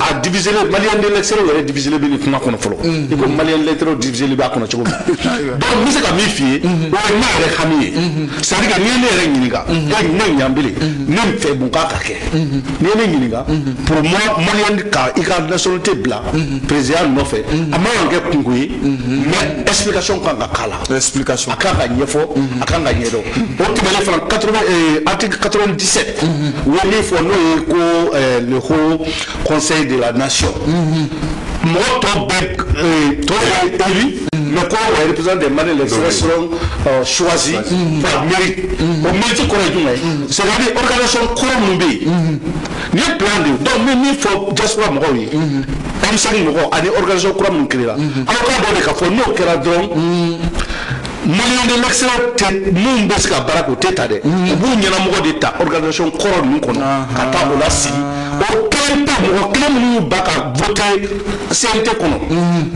a diviser Maliens de l'extérieurw yɛrɛ diviselen bɛ nin kuma kɔnɔ fɔlɔ i ko Maliens de l'intérieurw diviselen b'a kɔnɔ cogo min na donc n bɛ se ka min f'i ye o ye ne yɛrɛ hami ye c'est à dire que n'i ye ne yɛrɛ ɲininka ne Ɲanbele ne fɛ mun ka kan ka kɛ. Mhm. n'i ye ne ɲininka mhm. pour moi maliyɛn ka i ka nationalité bila mhm. président nɔfɛ a man kan kɛ kunko ye mais explication kan ka k'a la explication a kan ka ɲɛfɔ a kan ka ɲɛdɔn o tɛmɛnen fana 80 euh, article 97 u ye min fɔ n'o ye ko euh, le haut conseil de la nation mɔgɔ tɔ bɛɛ tɔ ye élu mais ko wa représentant des Maliens de l'extérieur seront choisis par mérite o mérite kɔrɔ ye jumɛn ye c'est à dire organisation kɔrɔ minnu bɛ yen nin ye plan de ye donc n bɛ min fɔ diaspora mɔgɔw ye M5 mɔgɔw ani organisation kura minnu créera aw k'a dɔn de k'a fɔ n'o kɛra dɔrɔn Maliens de l'extérieur tɛ minnu bɛ se ka baara kɛ u tɛ ta dɛ u b'u ɲɛnamɔgɔ de ta organisation kɔrɔ ninnu kɔnɔ ka taa o lasigi o kelen pe mɔgɔ kelen minnu y'u ba ka voter CNT kɔnɔ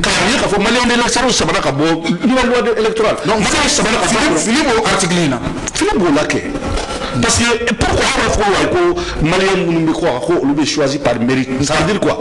k'a ye k'a fɔ Maliens de l'extérieur sabara ka bɔ nouvelle loi de électorale donc voter sabara ka bɔ a kɔnɔ fili b'o article in na fili b'o la kɛ parce que pourquoi an b'a fɔ ko wayi ko Maliens minnu bɛ kɔkan ko olu bɛ choisi par mérite ça veut dire quoi.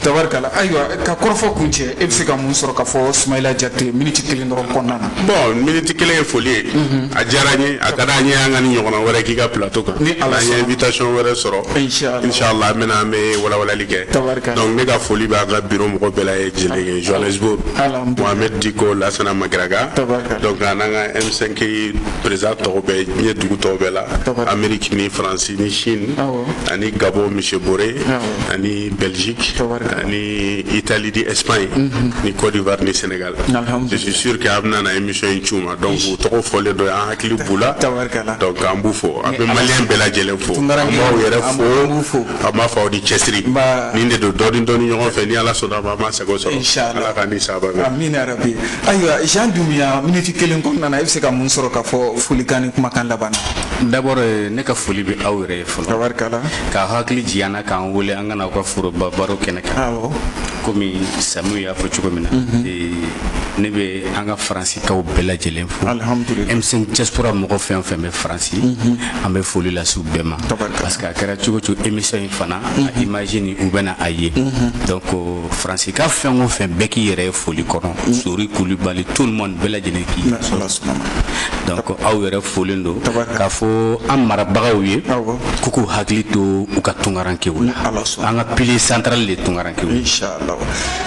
Tabarikala ayiwa ka kɔrɔfɔ kuncɛ e bɛ se ka mun sɔrɔ k'a fɔ Sumayila Jakite miniti kelen dɔrɔn kɔnɔna na. Bon miniti kelen ye foli ye. Unhun. A diyara n ye a ka d'an ye an ka nin ɲɔgɔnna wɛrɛ k'i ka plateau kan. Ni Ala sɔnna. N'an ye invitation wɛrɛ sɔrɔ. Inchallah. Inchallah an bɛ na an bɛ walawalali kɛ. Tabarikala. Donc ne ka foli bɛ an ka bureau mɔgɔ bɛɛ lajɛlen ye Johannesburg. Alhamdulilahi. Mohamed Dicko Lassana Magaraka. Tabarikala. Donc an'an ka M5 président tɔw bɛɛ diɲɛ dugu tɔw bɛɛ la. Tabarikala. Amérique ni France ni Chine. Awɔ. Ani Gabon monsieur Bore. Awɔ. Ani Belgique ni Italie ni Espagne mhm. ni Côte d'Ivoire ni Sénégal je suis sûr que an bɛna na émission in c'u ma donc u tɔgɔ fɔlen don an hakili b'u la donc an b'u fo an bɛ maliyɛn bɛɛ lajɛlen fo an b'aw yɛrɛ fo an b'a fɔ aw ni cɛsiri nin de don dɔɔni dɔɔni ɲɔgɔn fɛ ni ala sɔnn'a ma an b'an sago sɔrɔ ala k'an ni saba bɛn amin yarabi ayiwa Jean Dumbuya miniti kelen kɔnɔna na i bɛ se ka mun sɔrɔ k'a fɔ folikan ni kumakan laban na d'abord ne ka foli bɛ aw yɛrɛ ye fɔlɔ ka hakili jigin A k'an wele an ka na aw ka foroba baro kɛnɛ kan awɔ komi Samiu y'a fɔ cogo min na ee, ne bɛ an ka faransikaw bɛɛ lajɛlen fo Alihamudulila. M5 diaspora mɔgɔ fɛn o fɛn bɛ faransi an bɛ foli lase u bɛɛ ma Tabarikala. parce que a kɛra cogo o cogo émission in fana a image nin u bɛna a ye donc faransika fɛn o fɛn bɛɛ k'i yɛrɛ ye foli kɔnɔ mm. sori kulubali tout le monde bɛɛ lajɛlen k'i donc aw yɛrɛ folen don k'a fɔ an marabagaw ye k'u k'u hakili to u ka tunkarankew la an ka pilier central de tunkarankew inshallah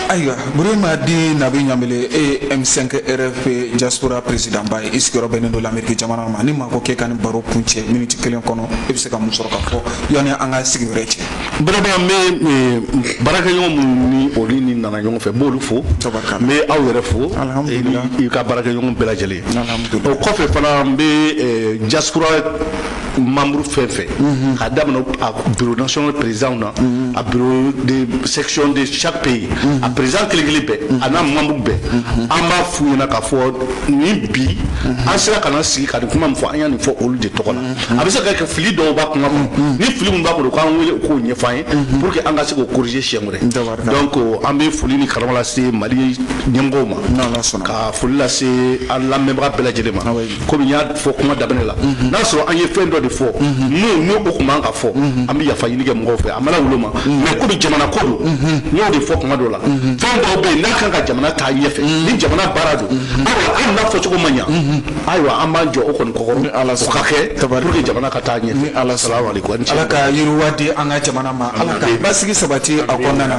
ayiwa burema dit nabi ɲanbele e ye m5 rfp diaspora présidentba ye i sigiyɔrɔ bɛnnen don lamɛriki jamana ma ni maa ko k'e ka nin baro kuncɛ miniti kelen kɔnɔ i bɛ se ka mun sɔrɔ ka fɔ yanni an ka sigi wɛrɛ cɛ vraiment n bɛ eh, baarakɛɲɔgɔn minnu ni olu ni nana ɲɔgɔn fɛ n b'olu fo n bɛ aw yɛrɛ fo i ka baarakɛɲɔgɔn bɛɛ lajɛlen o kɔfɛ fana n bɛ eh, diaspora membre fɛn fɛn mhm. k'a daminɛ a bureau national président na mhm. a bureau de section de chaque pays mhm. a président kelen kelen bɛɛ a n'a membre bɛɛ an b'a f'u ɲɛna k'a fɔ ni bi an sera ka na sigi ka nin kuma min fɔ an y'a nin fɔ olu de tɔgɔ la a bɛ se ka kɛ fili dɔw b'a kuma na ni fili min b'a bolo k'an wele k'o ɲɛfɔ an ye pour que an ka se k'o corriger siɲɛ wɛrɛ donc an bɛ foli ni karama lase Mali ɲɛmɔgɔw ma ka foli lase an lamɛnbaga bɛɛ lajɛlen ma komi n y'a fɔ kuma daminɛ la n'a sɔrɔ an ye fɛn dɔ de fɔ n'o n'o o tun man ka fɔ an bɛ yafa ɲini kɛ mɔgɔw fɛ an m'a lawuli a ma mais komi jamana ko don n y'o de fɔ kuma dɔ la fɛn dɔw bɛ yen n'a kan ka jamana taa ɲɛfɛ ni jamana baara don ayiwa hali n'a fɔcogo ma ɲa ayiwa an b'an jɔ o kɔni kɔkɔrɔ o ka kɛ pour que jamana ka taa ɲɛ ni ala salamu alaikum ala ka yiriwa di an ka jamana ma ala ka basigi sabati a kɔnɔna na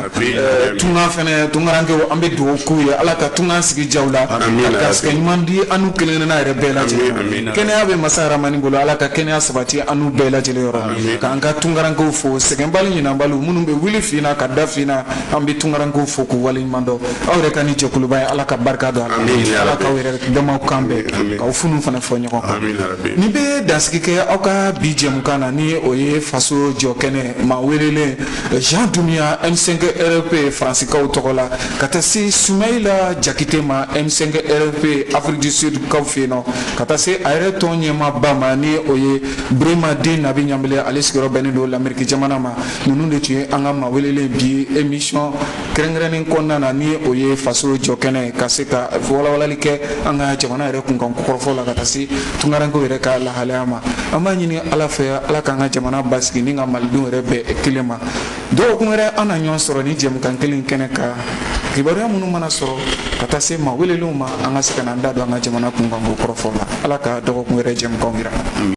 tunga fɛnɛ tungarankew an bɛ dugawu k'u ye ala ka tunga sigi diya u la ka garisɛgɛ ɲuman di an n'u kelenkelenna yɛrɛ bɛɛ lajɛlen kɛnɛya bɛ masa rahamani bolo ala ka kɛnɛya sabati an n'u bɛɛ lajɛlen yɔrɔ k'an ka tungarankew fo sɛgɛnbaliw ɲinanbaliw minnu bɛ wuli fin na ka da fin na an bɛ tungarankew fo k'u waleɲuman dɔn aw yɛrɛ ka nin jɛkuluba ye ala ka barika don a la ala k'aw yɛrɛ damaw kan bɛn k'aw funu fana fɔ ɲɔgɔn kan nin bɛ dansigi kɛ aw ka bi jɛmukan na ni o ye faso jɔ kɛnɛ maa welelen jean dunbiya m5 rfp faransikaw tɔgɔ la ka taa se sumayila jakite ma m5 rfp afrique du sud kaw fɛ yen nɔ ka taa se a yɛrɛ tɔn ɲɛmaaba ma ni o ye burema dit nabi ɲanbele ale sigiyɔrɔ bɛnnen don lamɛriki jamana ma ninnu de tun ye an ka maa welelen bi emisiyɔn kɛrɛnkɛrɛnnen kɔnɔna na ni o ye faso jɔkɛnɛ ka se ka walawalali kɛ an ka jamana yɛrɛ kunkan kɔrɔfɔ la ka taa se tunkarankew yɛrɛ ka lahalaya ma an b'a ɲini ala fɛ ala k'an ka jamana basigi ni ka malidenw yɛrɛ bɛn kelen ma dɔgɔkun wɛrɛ an na ɲɔgɔn sɔrɔ nin jɛmukan kelen kɛnɛ kan kibaruya minnu mana sɔrɔ ka taa se maa welelenw ma an ka se ka n'an da don an ka jamana kunkanko kɔrɔfɔ la ala ka dɔgɔkun wɛrɛ jɛmukanw jira